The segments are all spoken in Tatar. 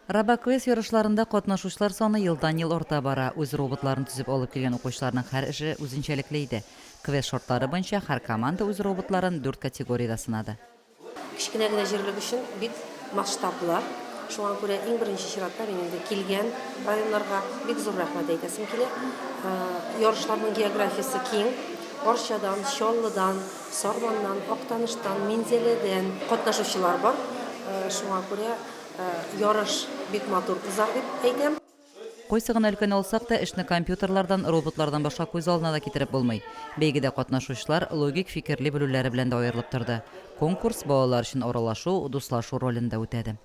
Робоквест ярышларында катнашучылар саны елдан-ел арта бара. Үз роботларын төзеп алып килгән укучыларның һәр эше үзенчәлекле иде. Квест шартлары буенча һәр команда үз роботларын дүрт категориядә сынады. Кечкенә генә җирлек өчен бик масштаблы. Шуңа күрә иң беренче чиратта мин инде килгән районнарга бик зур рәхмәт әйтәсем килә. Ярышларның географиясе киң. Арчадан, Чаллыдан, Сарманнан, Актаныштан, Минзәләдән катнашучылар бар. Шуңа күрә Ярыш бик матур узар дип әйтәм. Кайсы гына өлкәне алсак та, эшне компьютерлардан, роботлардан башка күз алдына да китереп булмый. Бәйгедә катнашучылар логик фикерли белүләре белән дә аерылып торды. Конкурс балалар өчен аралашу, дуслашу ролен дә үтәде.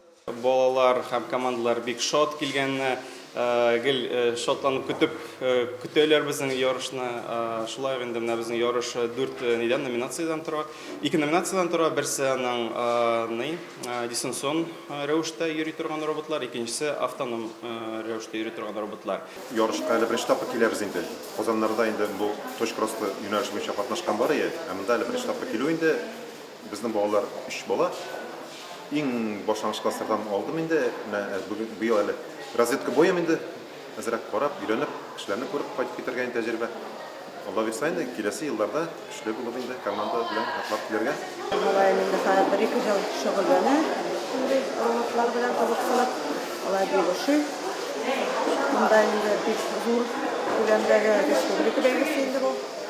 Балалар һәм командалар бик шат килгәннәр. Гел шатланып көтеп көтәләр безнең ярышны. Шулай инде менә безнең ярыш дүрт нидән номинациядән тора. Ике номинациядән тора. Берсе аның ни дистанцион рәвештә йөри торган роботлар, икенчесе автоном рәвештә йөри торган роботлар. Ярышка әле беренче тапкыр киләбез инде. Казаннарда инде бу точкросслы юнәлеш буенча катнашкан бар иде, ә монда әле беренче тапкыр килү инде. Безнең балалар өч бала. Иң башлангыч класслардан алдым инде. Менә быел әле разведка боем инде. Әзрәк карап, өйрәнеп, кешеләрне күреп кайтып китәргә инде тәҗрибә. Алла бирса инде, киләсе елларда көчле булып инде команда белән атлап килергә. Мөгаен инде хәзер бер-ике ел шөгыльләнә шундый роботлар белән кызыксынып. Алай бик ошый. Монда инде бик зур күләмдәге республика бәйгесе инде бу.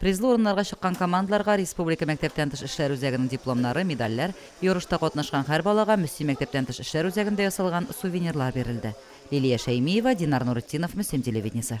Призлы урыннарга чыккан командаларга республика мәктәптән тыш эшләр үзәгенең дипломнары, медальләр, ярышта катнашкан һәр балага Мөслим мәктәптән тыш эшләр үзәгендә ясалган сувенирлар бирелде. Лилия Шәймиева, Динар Нуретдинов, Мөслим телевидениесе.